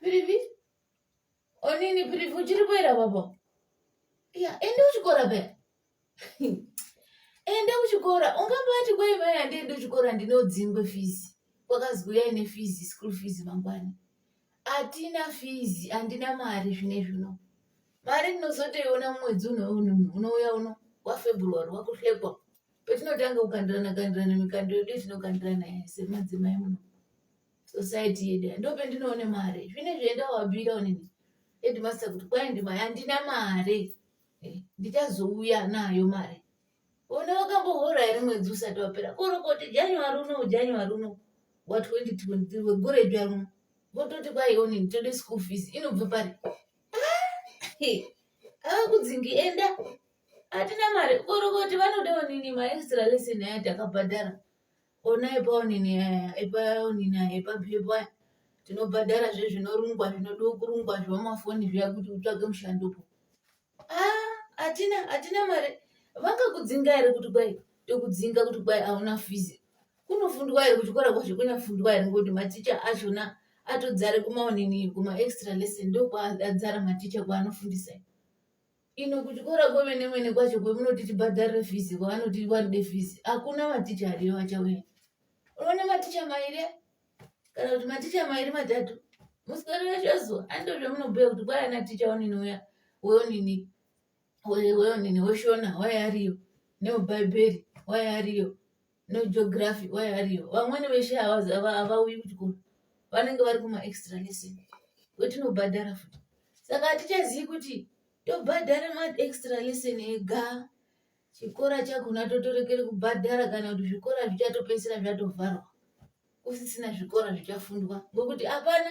Pirivi? Onini pirivi uchiri kuera baba? Ya, ende uchikora be. Ende uchikora. Ungambati kwa iwe ende ende uchikora ndinodzingwe fees. Kwakaziuya ine fees, school fees mangwani. Atina fees, andina mari zvine zvino. Mari ndinozotoiona mwedzi uno uno uno uya uno wa February wakuhlekwa. patinotanga kukandirana kandirana mikando yedu yatinokandirana semadzimai muno society yedu ndo pendinoone mari zvine zvienda wabira onini headmaster kuti kwai ndima handina mari eh, ndichazouya nayo mari ona wakambohora here mwedzi usati wapera korokoti january uno january uno wa 2023 wegore jwa runo vototi kwai onini tode school fees inobva pari ah, ava kudzingi enda hatina mari uri kuti vanoda onini maextra lesson aya takabhadhara ona epaonini aya epaonini aya epabhepo aya tinobhadhara zve zvinorungwa zvinoda kurungwa zvemafoni zviya kuti utsvage mushandopo ah, hatina hatina mari vakakudzinga here kuti kwai tokudzinga kuti kwai hauna fizi kunofundwa here kuchikora kwacho kunofundwa here ngokuti maticha achona atodzare kumaonini kumaextra lesson ndokwaadzara maticha kwaanofundisa ino kuchikora kwemene mene kwacho kwemunoti tibhadharire fizi kwavanoti vanode fizi hakuna maticha ariyo vachauya unoona maticha mairi kana kuti maticha mairi matatu musikana wacho azo andizvo zvamunobhuya kuti kwai ana ticha onini uya weonini weonini weshona waye ariyo neubhaibheri waye ariyo no geography why are you vamwene veshe havauyi kuchikoro vanenge vari kuma extra lesson wetinobhadhara futi saka hatichazivi kuti tobhadhara ma extra lesson ega chikora chakona totorekere kubhadhara kana kuti zvikora zvichatopedzisira zvatovharwa kusisina zvikora zvichafundwa ngokuti hapana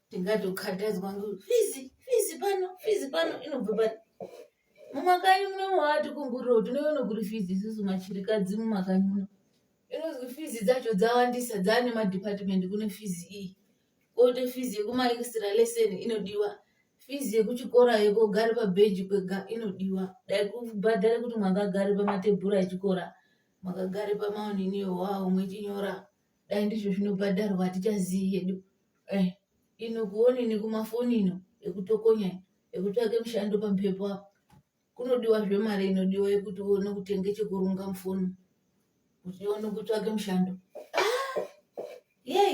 ndingatokatadzwa ngo fizi fizi pano fizi pano inobva pano mumakanyi muno waati kunguriro tinoona kuri fizi isusu machirikadzi mumakanyi muno inozwi fizi dzacho dzawandisa dzaane madhipatimendi kune fizi iyi koite fizi yekumaextra lesson inodiwa fizi yekuchikora yekogare pabheji kwega inodiwa dai kubhadhare kuti mwakagare pamatebhura echikora mwakagare pamaoniniyo wawo mwechinyora wa dai ndizvo zvinobhadharwa hatichazivi hedu eh, ino kuoni nekumafoni ino ekutokonya ekutsvake mushando pamhepo apo kunodiwa zvemari inodiwa yekuti uone kutenge chekurunga mufoni kuti uone kutsvake mushando ah! yei